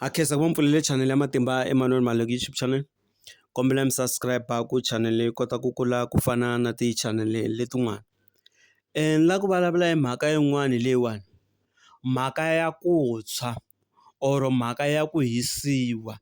Ha khensa ku va mi pfulele channel ya Matimba Emmanuel Maleki YouTube channel kombela mi subscribe ku channel yi kota ku kula ku fana na ti channel letin'wana ni la ku vulavula hi mhaka yin'wani leyiwani mhaka ya ku tshwa or mhaka ya ku hisiwa.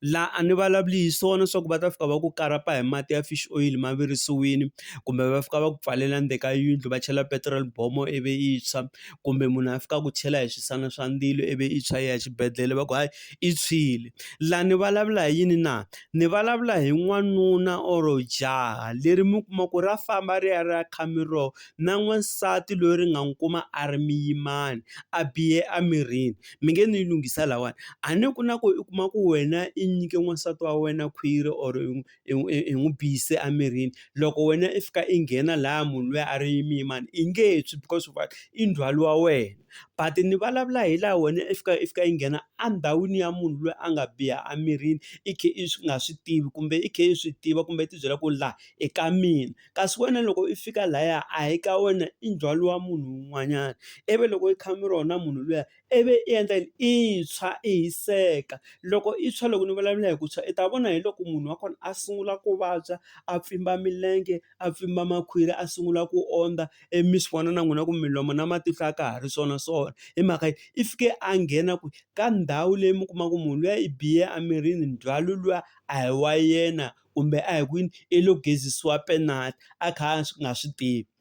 Laha a ni vulavuli hi swona swa ku va ta fika va ku karapa hi mati ya fish oil ma virisiwile, kumbe va fika va ku pfalela ndzeni ka yindlu va chela petiroli bombo ivi yi tshwa, kumbe munhu a fika a ku chela hi swisana swa ndzilo ivi yi tshwa i ya exibedhlele va ku hayi yi tshwile. Laha ni vulavula hi yini na? Ni vulavula hi n'wanuna or jaha leri mi kuma ku ra famba ri ya ri ya kha miroho na n'wansati loyi ri nga n'wi kuma a ri muyimana a bihe emirini. mi nge ni yi lunghisa lahawani a ni ku na ku u kuma ku wena i nyike n'wansati wa wena khwiri or i n'wi biyise emirini loko wena i fika i nghena laha munhu luya a ri muyimana i nge tshwi because why i ndzhwalo wa wena but ni vulavula hi laha wena i fika i fika i nghena endhawini ya munhu loyi a nga biha emirini i khe i swi nga swi tivi kumbe i khe i swi tiva kumbe i ti byela ku laha i ka mina. kasi wena loko i fika laya a hi ka wena i ndzhwalo wa munhu un'wanyana, ivi loko i kha mi ri wona munhu luya ivi i endla yini i tshwa i hiseka, loko i tshwa loko ni vulavula hi ku tshwa i ta vona hi loko munhu wa kona a sungula ku vabya a pfimba milenge a pfimba makhwiri a sungula ku ondza, ivi mi swi vona na n'wina ku milomo na matihlo a ka ha ri swona swona, hi mhaka yini i fike a nghena kwihi ka ndhawu leyi mi kuma ku munhu luya i biye emirini ndzhwalo luwa a hi wa yena. kumbe a hi kwini i lo gezisiwa penalt a kha a nga swi tivi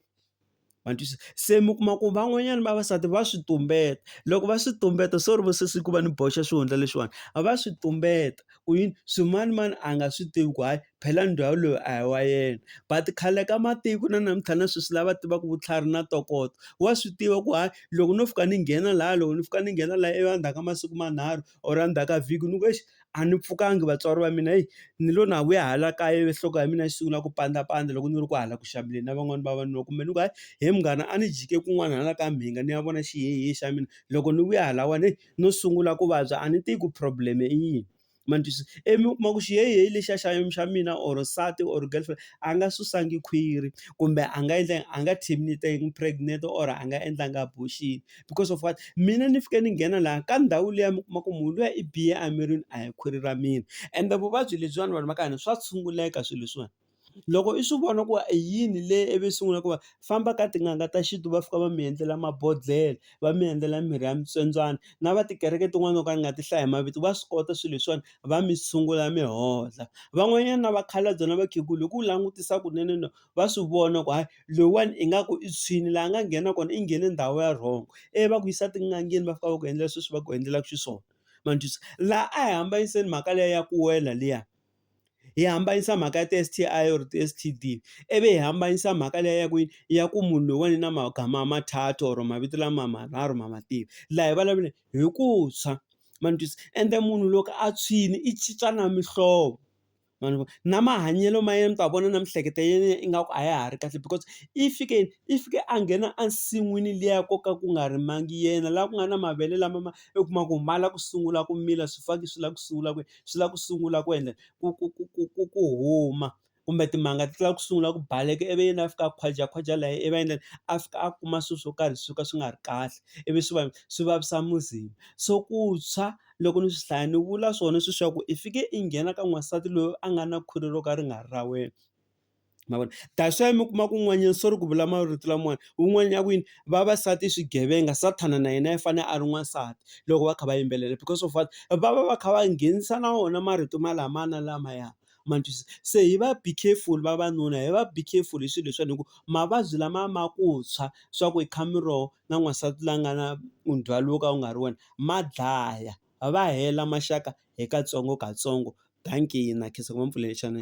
ma twisisa se mi kuma ku van'wanyana vavasati va swi tumbeta loko va swi tumbeta sorry vo sesi ku va ni boxa xihundla lexiwani a va swi tumbeta ku yini swimanimani a nga swi tivi ku hayi phela ndhawu loyi a hi wa yena but khale ka matiko na namuntlha na sweswi lava tivaka vutlhari na ntokoto wa swi tiva ku hayi loko no fika ni nghena laya loko ni fika ni nghena laya ivi endzhaku ka masiku manharhu or a ndzhaku ka vhiki ni ku exi a ni pfukanga vatswari va mina hi ni lo na vuya hala kaya ivi nhloko ya mina yi sungula ku pandzapandza loko ni ri ku hala ku xaveleni na van'wani vavanuna kumbe ni ku hayi he munghana a ni jike kun'wana hala ka mhinga ni ya vona xihehe xa mina loko ni vuya lahawani heyi no sungula ku vabya a ni tivi ku problem i yini ma ni twisisa ivi mi kuma ku xihehe lexiya xa xa mina or nsati or girlfriend a nga susanga khwiri kumbe a nga endla yini a nga terminate-angi pregnant or a nga endlanga abortion. because of what mina ni fike ni nghena laha ka ndhawu liya mi kuma ku munhu luya i biye emirini a hi khwiri ra mina ende vuvabyi lebyiwani vanhu va ka hina swa tshunguleka swilo leswiwani loko i swi vona ku i yini leyi i vi i sungula ku va famba ka tin'anga ta xintu va fika va mi endlela mabodhlele va mi endlela mirhi ya mitswetswana na va tikereke tin'wani to ka ni nga ti hlayi hi mavito va swi kota swilo leswiwani va mi tshungula mi hola van'wanyana na vakhalabye na vakhegula hi ku langutisa kunene . va swi vona ku hayi loyiwani ingaku i tshwini laha a nga nghena kona i nghene ndhawu ya wrong, ivi va ku yisa etin'angeni va fika va ku endlela sweswi va ku endlelaka xiswona ma ni twisisa. Laha a hi hambanyiseni mhaka liya ya ku wela liya hi hambanyisa mhaka ya ti-S_T_I or ti-S_T_D, ivi hi hambanyisa mhaka liya ya ku yini ya ku munhu loyiwani i na magama mathathu or mavito lama manharhu ma ma tiva, laha hi vulavuleni hi ku tshwa ma ni twisisa. Ende munhu loko a tshwile i cinca na mihlovo. ma ni vona. Na mahanyelo ma yena mi ta vona na miehleketo ya yena ingaku a ya ha ri kahle because i fike i fike a nghena ensin'wini liya ko ka ku nga rimiwangi yena, laha ku nga na mavele lama ma u kuma ku ma lava ku sungula ku mila, swifaki swi lava ku sungula ku swi lava ku sungula ku endla ku ku ku ku ku ku huma. Kumbe timanga ti lava ku sungula ku baleka ivi yena a fika a khwajakhwaja lahaya ivi a endla yini? A fika a kuma swilo swo karhi swo ka swi nga ri kahle, ivi swi swi vavisa muzimba. So ku tshwa. Loko ni swi hlaya ni vula swona sweswi swa ku i fike i nghena ka n'wansati loyi a nga na khwiri ro ka ri nga ri ra wena. Ma vona? That's why mi kuma ku un'wanyana sorry ku vula marito lamawani, un'wana a ku yini, vavasati i swigevenga, Sathana na yena i fanele a ri n'wansati loko va kha va yimbelela because of what? Va va va kha va nghenisa na wona marito malamaya na lamaya. ma ni twisisa. Se hi va be careful vavanuna hi va be careful hi swilo leswiwani hikuva mavabyi lama ma ku tshwa swa ku hi kha mi ro na n'wansati la nga na ndzhwalo wo ka wu nga ri wona ma dlaya va hela maxaka hi katsongokatsongo dankeni na khensa ku va ni pfulele xana.